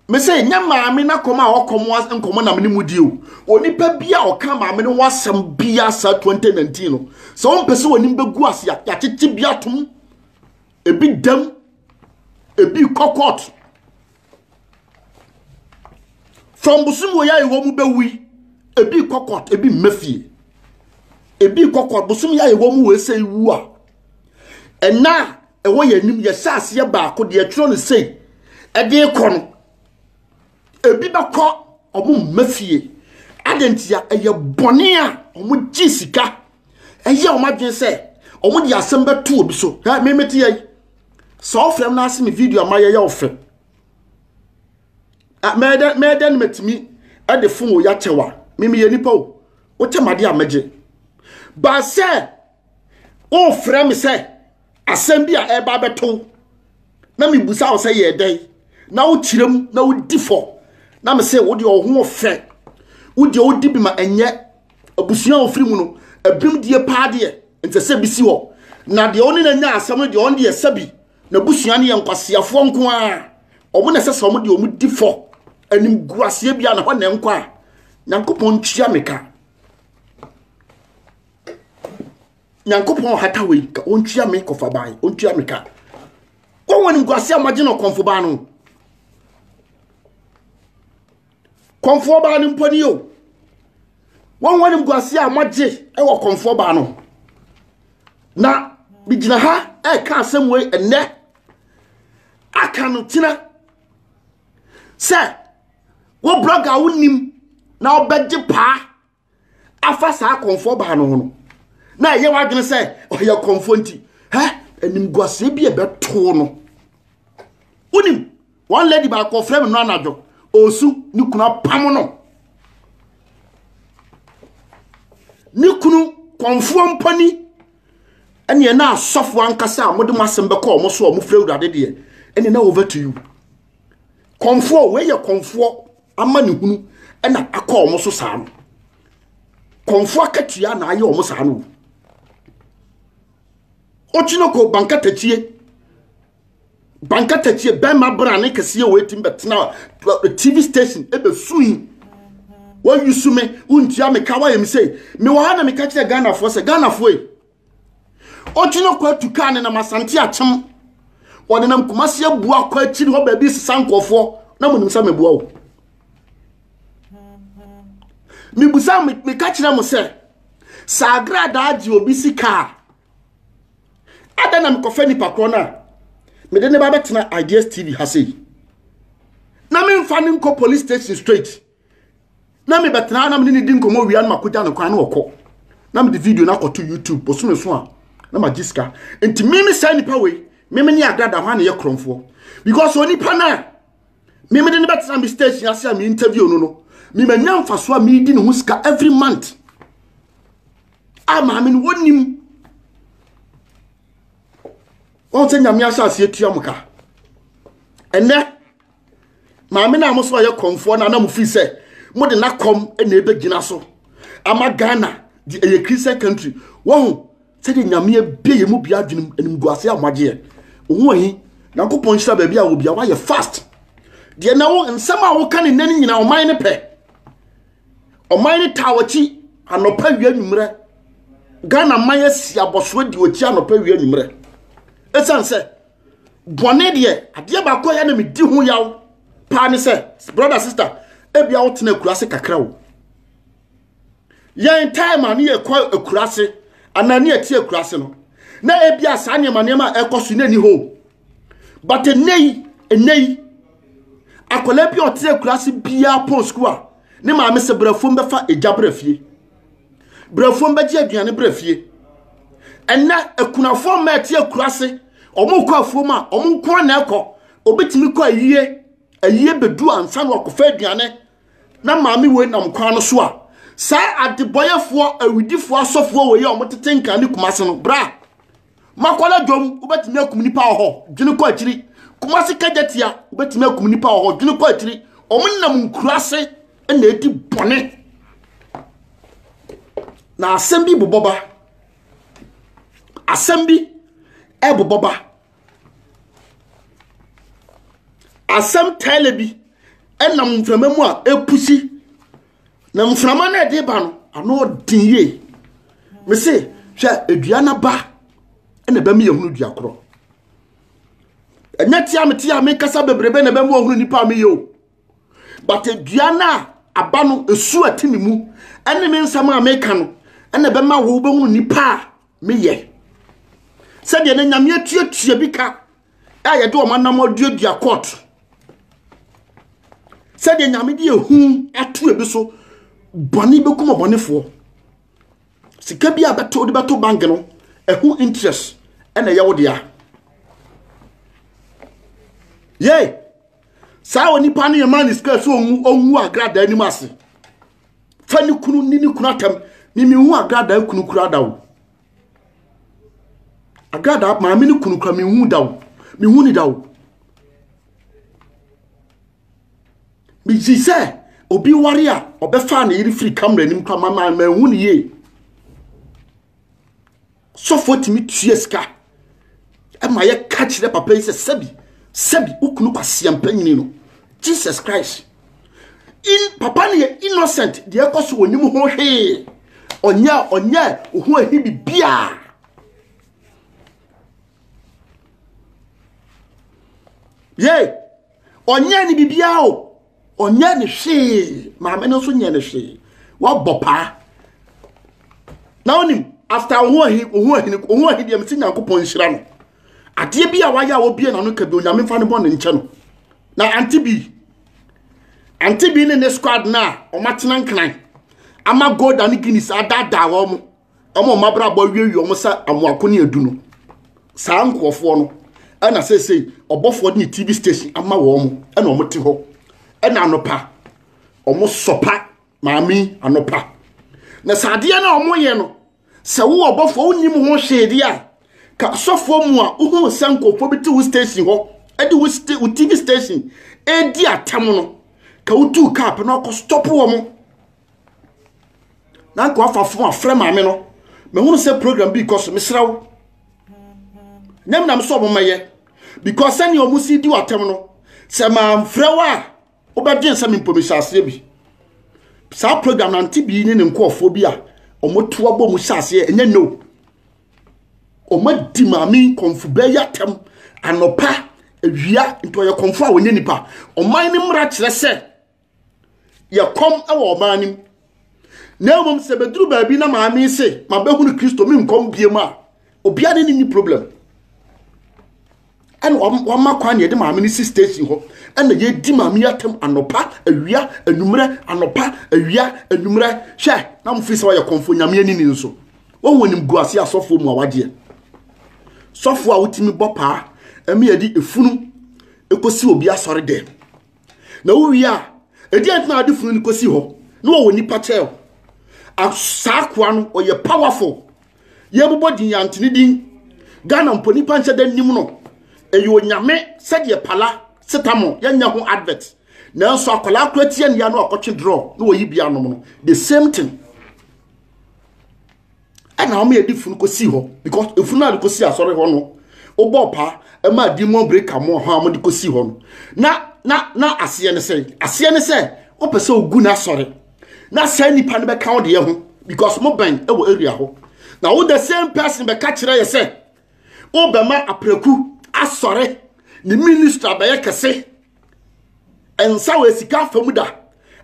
Me sɛ ɛnyɛ maame na kɔm a ɔkɔm nkɔmɔ na mene mu di o onipa bi a ɔka maame no ho asɛm bia saa 2019 no sɛ ɔmpɛ sɛ onim bɛgu ase yɛakyekye bi atom ebi dam ebi kɔkɔt from bosom wɔ yɛ a ɛwɔ mu bɛwui ebi kɔkɔt ebi mmafie ebi kɔkɔt bosom yɛ a ɛwɔ mu wɔ ɛsɛ wu a ɛna ɛwɔ yɛn anim yɛhyɛ aseɛ baako deɛ ɛtwerɛ no sei ɛde rekɔ no ebi bɛkɔ wɔn mma fie adɛn ntia ɛyɛ bɔne a wɔgye sika ɛyɛ wɔn adwene sɛ wɔde asɛm bɛto obi so ɛ memete yɛ sɛ ɔfrɛ m no ase me video ama yɛyɛ wo fɛ mɛdɛ mɛdɛ no matumi ɛde fo wɔ yɛakyɛw a memeyɛ nipa o wokyɛ made a mɛgye baasɛ wofrɛ me sɛ asɛm bi a ɛreba abɛto wo na mebusa wo sɛ yɛ dɛn na wokyerɛ mu na wodi fɔ na me sɛ wodeɛ ɔho ɔfɛ wodeɛ wodi bi ma ɛnyɛ abusua a ɔfiri mu no abim die paa deɛ nsɛ sɛ bi si hɔ na deɛ ɔne na nya asɛm no deɛ ɔn deɛ sɛ bi na abusua no yɛ nkwaseafoɔ nko a ɔmo na ɛsɛ sɛ ɔmo deɛ ɔmo di fɔ anim gu aseɛ bia na hɔ na nkɔ a nyankopɔn ntua me ka nyankopɔn hata wei ka ɔntua me kɔfa ban ɔntua me ka wɔn wɔn nkwasi a wɔagye no kɔnfo ban no kɔnfoɔ ban no mpo ni o wɔn wɔn nkwasi a wɔagye wɔ kɔnfoɔ ban no na megyina ha ɛka asɛm wei ɛnɛ aka no tena sɛ wo blɔga wonim na wobɛgye paa afa saa kɔmfoɔ baa no ho no na ɛyɛ w'adwene sɛ ɔyɛ kɔmfoɔ nti hɛ animguaseɛ bi a ɛbɛtoo no wonim wɔn lady baako ɔfrɛ me no anadwo ɔsu ne kunu apam no ne kunu kɔmfoɔ mpani ɛneɛ na asɔfoɔ ankasa a mode mo asɛm bɛkɔ ɔmo so a ɔmo frɛ awurade deɛ ɛneɛ na over to you kɔmfoɔ wei yɛ kɔmfoɔ ama ne hunu na akɔ wɔn so saa no kɔnfo akatua na ayɛ wɔn saa no okyina kɔ bankatatie bankatatie bɛrima brane kɛseɛ wɔ etim bɛtena eh, tv station ebɛsui wɔyusu me wontua me ka wayɛ me sei mewɔ ha na meka kyerɛ ghanafoɔ sɛ ghanafoɔ yi Ɔgyina kɔ atu kaa ne nam asante akyem. Ɔde nam kumasi abu akɔ akyiri hɔ baabi sesa nkɔfoɔ na mo nim sɛ meboa o. Mibusa meka kyerɛ mo sɛ sɛ agradaa gye obi sika a ada na mekɔfɛ nipa korɔ no a mede ne ba bɛtena ideas tv ha sei na memfa ne nkɔ police station straight na mebɛtena na mene ne di nkɔmmɔ wia no makɔgya no kwan na ɔkɔ na mede video no akɔto youtube bosome so a na magye sika nti meme saa nipa wei meme ne adada hɔ a na yɛ korɔmfoɔ because onipa no a meme de no bɛtena me station ase a me interview no no memanya mfasoɔ a medi ne ho sika every month a maame no wɔnim wɔn sɛ nyame ahyɛ aseɛ tua mo ka ɛnɛ maame no a mo so ɔyɛ kɔmfoɔ no a na mo firi sɛ mo de n'akɔm na ɛbɛgyina so ama ghana de ɛyɛ christian country wɔho sɛdeɛ nyame abie yɛ mu bia adwenem animguaseɛ a moagyeɛ wo ahi nyankopɔn nhyira baabi a wɔ bia woayɛ fast deɛ na wo nsɛm a woka ne nnɛ no nyina ɔman no pɛ ɔman no taa wɔkyi anɔpa wia nwummerɛ ghana man asi abɔsoɔ di wɔkyi anɔpa wia nwummerɛ ɛsiane sɛ bɔne deɛ adeɛ baako a ɛyɛ na medi ho yaw paa ne sɛ brother sister ebia wotena akura ase kakra o yɛn time a ne yɛkɔ akura ase anaa ne yɛte akura ase no na ebia saa nneɛma nneɛma a ɛkɔ so n'ani hɔ but ɛnɛ yi ɛnɛ yi akwadaa bi a ɔte akura ase biara pɔn sukuu a ne maame sɛ brɛfo mbɛfa egya brɛ fie brɛfoɔ mbɛgye aduane brɛ fie ɛnɛ akunafoɔ mma ɛte akura ase wɔn kɔ afuom a wɔn nko na ɛkɔ obetumi kɔ ayie ayie bedu ansa na ɔkɔfa aduane na maame wei nam kwan no so a saa adebɔyɛfoɔ awidifoɔ asɔfoɔ wei a wɔtete nkan ne kumase no bra Makwala dwom wobɛtumi akum nipa wɔ hɔ dwene kɔ akyiri Kumasi kagyatia wobɛtumi akum nipa wɔ hɔ dwene kɔ akyiri wɔn nam nkura ase na edi bɔne na asɛm bi bobɔ ba asɛm bi ɛbobɔ ba asɛm tɛlɛ bi ɛnam mframa mu a epusi. na mframa no ɛde ba no ano ɔden yie me se hwɛ edua no ba ɛna ɛbɛma yɛhunu dua korɔ ɛnyɛ tia me tia menkasa bebrebe na ɛbɛma ɔhunu nipa a meyɛ o but edua no a aba no esu a ɛte me mu ɛne me nsɛm a meka no ɛna ɛbɛma wo bɛhunu nipa a meyɛ sɛdeɛ ne nyameɛ tuatua bi ka a yɛde wɔn anam aduadua court sɛdeɛ nyame de ehu ato ebi so bɔne bɛkum ɔbɔnefoɔ sika bi a bɛto wode bɛto bank no ɛho interest ɛna ɛyɛ wo dea yei saa onipa no yɛma ne sika sɛ ɔnwu agradaa anim ase fa ne kunu ne ne kunu atam memehu agradaa kunu kura da o Agradaa maame no kunu kura mehu da o mehu ne da o mesi sɛ obi ware a ɔbɛfaa ne yere firi kamera anim kora mama mahu ne yie sɔfoɔ tumi tua sika ɛma yɛka kyerɛ papa yi sɛ sɛbi sɛbi wo kunu kwasia mpanyini no jesus christ in papa no yɛ innocent deɛ ɛkɔ so ɔnim ho hwee ɔnyɛ ɔnyɛ ɔho ahi bibiaa ye ɔnyɛ ne bibiaa o ɔnyɛ ne hwee maame no nso nyɛ ne hwee wɔbɔ paa na wonim after ohun ahi ohun ahi ohun ahi deɛ mesi nyankopɔn nhyira no adeɛ bi a wayɛ a wɔbie n'ano ka bi onyame fa ne bɔ ne nkyɛ no na ante bi ante bi ne ne squad no a wɔatena nkran ama golda ne guinness adaadaa wɔn mo wɔn a wɔabrabɔ awiewie wɔn sɛ amoako ne adu no saa nkurɔfoɔ no ɛna seesei ɔbɔfoɔ de ne tv station ama wɔn ɛna wɔn te hɔ ɛna anopa wɔn sɔpa maame anopa na sɛ adeɛ no a wɔn yɛ no sɛ wowɔ ɔbɔfoɔ wonim ho hwee deɛ a ka sɔfoɔ mu a wohu sɛ nkurɔfoɔ bi te wo station hɔ ɛde wo sta wo tv station ɛredi atam no ka wotu kaa pɛ na ɔkɔ stɔpo wɔn na nka wafa fom afrɛ maame no mehunu sɛ program bi kɔ so mesrɛ wo nyam nam sɛ ɔmomɛyɛ because sɛnea ɔmo si di watam no sɛ mamfrɛ wo a wobɛdwen sɛ mempɔmisa aseɛ bi saa program nante bi ne ne nkɔɔfoɔ bi a ɔmoto abɔ mu hyɛ aseɛ ɛnyɛ no ɔmadi maame nkɔmfo bɛyɛ atɛm anɔpa awia nti ɔyɛ kɔmfo a ɔnyɛ nipa ɔman no mmara kyerɛ sɛ yɛ kɔm wɔ ɔbaa no mu na mmom sɛ bɛduru baabi na maame se mabɛhunu kristo menkɔm biam a obia ne ne problem ɛna wama kwan deɛ de maame no si station hɔ ɛna yɛdi maame yi atam anɔpa awia anwummerɛ anɔpa awia anwummerɛ hwɛ na mofiri sɛ wɔyɛ kɔmfo nyame ani ni nso wɔwɔ nim gu ase asɔfoɔ mu a wagyeɛ sɔfoɔ a wotumi bɔ paa ɛmi yɛde efunu ɛkɔsi obi asɔre dɛm na wowie a ɛdi ɛnti na ade funu no kɔsi hɔ na wɔwɔ nipa kyɛw saa koa no ɔyɛ powerful yɛbobɔ din yɛantene din ghana mpo nipa nhyɛ da nim no ɛyɛ onyame sɛdeɛ pala setamo yɛnyɛ ho advert nanso akwadaa kora tia nia no akɔtwe draw na wɔyi bi anom no the same thing ɛna wɔn yɛde funu kɔsi hɔ because efunu a de kɔsi asɔre hɔ no wobɔ paa ɛma adi mu breka mu ɔha wɔn de kɔsi hɔ no na na na aseɛ ne sɛ aseɛ ne sɛ wopɛ sɛ ogu n'asɔre na saa nipa no bɛka wo deɛ ho because mo bɛn ɛwɔ area hɔ na wo the same person bɛka kyerɛ yɛ sɛ wobɛma apreku asɔre ne minister bɛyɛ kɛse nsa wɔ sika afa mu da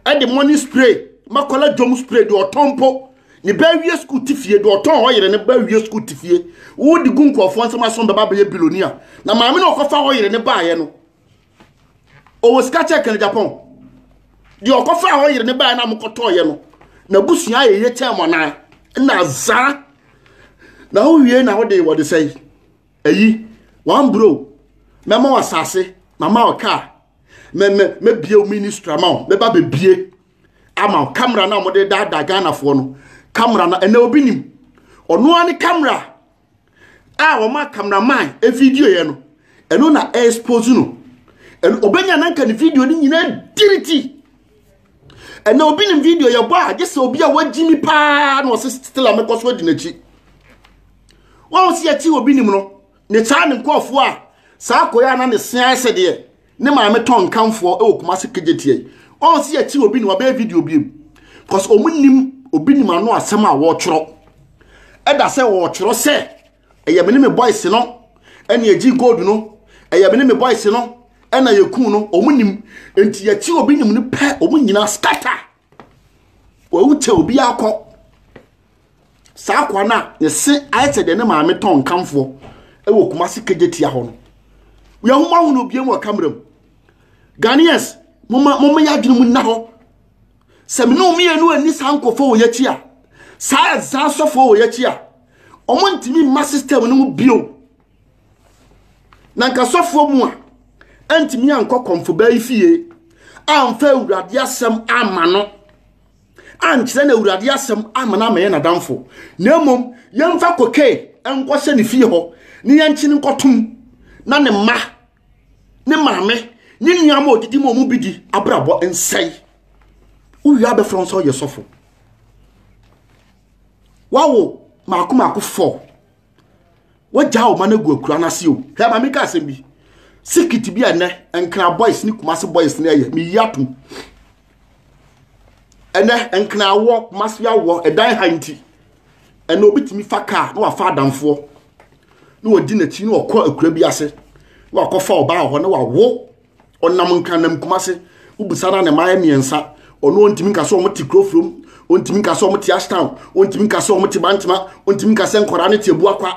ɛde money spray makɔla dwom spray deɛ ɔtɔn mpo ne ba awie sukuu te fie deɛ ɔtɔn hɔ yere ne ba awie sukuu te fie wodi gu nkurɔfoɔ nsɛm aso bɛba bɛyɛ biloni a na maame na ɔkɔfa hɔ yere ne baeɛ no ɔwɔ sika kyɛ kɛne japan deɛ ɔkɔfa hɔ yere ne baeɛ no a mokɔtɔɔyɛ no na busua yɛ yɛ kyɛn mo anaa na zaa na wowie na wode wɔde sɛe Eyi, one bro, mɛma wo asase, mama wo kaa, mɛ mɛ mɛbie wo ministry ama wo, mɛba bɛbie ama wo kamera no a wɔde daadaa Ghanafoɔ no, kamera no ɛnɛ obi nim, ɔno ara ne kamera a wɔn a kameraman video yɛ no, ɛno na expose no, ɛno ɔbɛnya nanka ne video no nyinaa diriti. ɛnna obi nim video yɛbɔ a gye sɛ obi a wagyimi paa na ɔse stela mɛkɔ so adi n'akyi wɔn si akyi obi nim no ne saa ne nkurɔfoɔ a saa akɔyɛ a na ne se ayɛ sɛ deɛ ne maame tɔn nkanfoɔ wɔ kumase kegye tiɛ wɔn si akyi obi nim ɔbɛyɛ video bi mu because wɔn nim obi nim ano asɛm a wɔretwerɛ ɛda sɛ wɔretwerɛ sɛ ɛyɛ me ne me boys no ɛna egyi gold no ɛyɛ me ne me boys no ɛna yɛkuu no wɔn nim nti yɛkyi obi nim no pɛ wɔn nyinaa scatter wɔwu kyɛ obi akɔ saa akwa no a ne se ayɛ sɛ deɛ ne maame tɔn nkamfoɔ wɔ kumase kagye tia hɔ no yɛhoma ho no biam wɔ kamera mu ghanaians moma moma yɛ adwene mu nna hɔ sɛ mene mmienu ani saa nkɔfoɔ wɔ yɛakyi a saa ɛzaa sɔfoɔ wɔ yɛakyi a ɔmo ntumi mma system no mu bio Na nka sɔfoɔ mu a antumi ankɔ kɔmfobaa yi fie amfa awurade asɛm ama no ankyerɛ na awurade asɛm ama no amɛyɛ n'adamfo na mmom yɛmfa koke nkɔhyɛ ne fie hɔ ne yɛnkyene nkɔtom na ne mma ne maame ne nnuama a ɔdidi ma ɔmu bi di abrabɔ nsɛe wowie abɛfrɛ wo sɛ ɔyɛ sɔfo wawo maako maako fɔ wagyaa wo ma no agu akura no ase o hɛ ma meka asɛm bi sikit bi a ɛnɛ nkra boys ne kumase boys ne ɛyɛ meyi atom ɛnɛ nkra awɔ kumase awɔ ɛdan ha nti ɛnɛ obi tumi fa kaa na wafa adamfoɔ na wɔdi n'akyi na wɔkɔ akura bi ase na wakɔfa ɔbaa hɔ na wawo ɔnam nkanam kumase wobisa na ne mmaeɛ mmiɛnsa ɔno ɔntumi nka sɛ ɔmo te kuro furom ɔntumi nka sɛ ɔmo te ashtown ɔntumi nka sɛ ɔmo te bantama ɔntumi nka sɛ nkwadaa no te abua kwa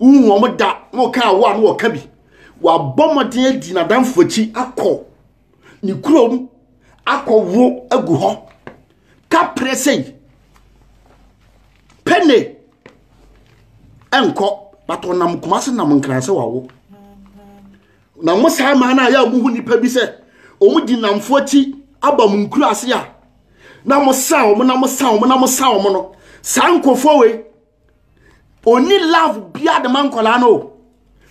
wohu ɔmo da na ɔka awo a na ɔka bi wabɔ mmɔden adi n'adamfo akyi akɔ ne kurom akɔwo agu hɔ kaprɛ sei pɛne ɛnkɔ but ɔnam kumase nam nkran sɛ wawo Na mo saa mmaa no a yɛ a mohu nnipa bi sɛ wɔdi nnamfo akyi aba mo nkuraase a na mosa wɔn na mosa wɔn na mosa wɔn no saa nkurɔfoɔ wei ɔni love bia de ma nkwadaa no o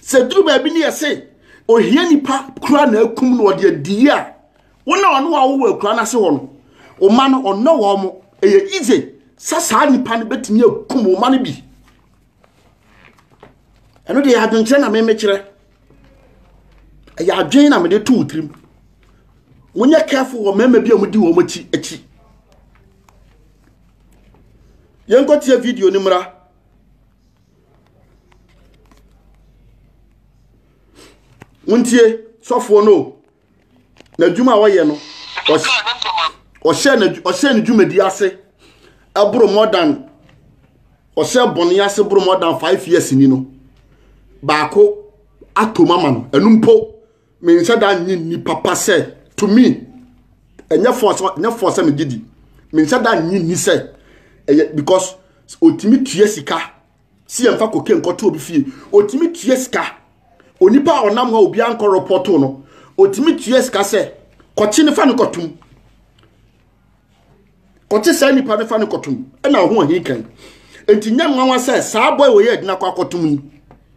sɛ duru baabi ne yɛse ohia nipa kura na akum no ɔde adiyie a wo na ɔno a wowɔ akura no ase hɔ no ɔma no ɔnnɔ wɔn mo ɛyɛ easy sɛ saa nipa no bɛtumi akum ɔma no bi ɛno deɛ adwenkyerɛ na memekyerɛ ɛyɛ adwen na mede too tirim monyɛ careful wɔ mmarima bi a wɔdi wɔn akyi akyi yɛnkɔtie video no mmra wontie sɔfoɔ no o n'adwuma a ɔyɛ no ɔhyɛ ne dwumadi ase boro more than ɔhyɛ bɔne ase boro more than five years ni no baako ato mu ama no ɛno mpo menhyɛ da nye nni papa sɛ to me ɛnyɛ fɔ sɛ ɛnyɛ fɔ sɛ megye di menhyɛ da nye nni sɛ ɛyɛ because otumi tua sika si yɛmfa koke nkɔto obi fie ɔtumi tua sika onipa a ɔnam hɔ obiara nkɔ rɔpɔto no ɔtumi tua sika sɛ kɔkye no fa no kɔtom kɔkye saa nipa no fa no kɔtom ɛna ɔho ahi kan nti nyɛ nwanwa sɛ saa bɔe wɔyɛ adina kɔ akɔtom yi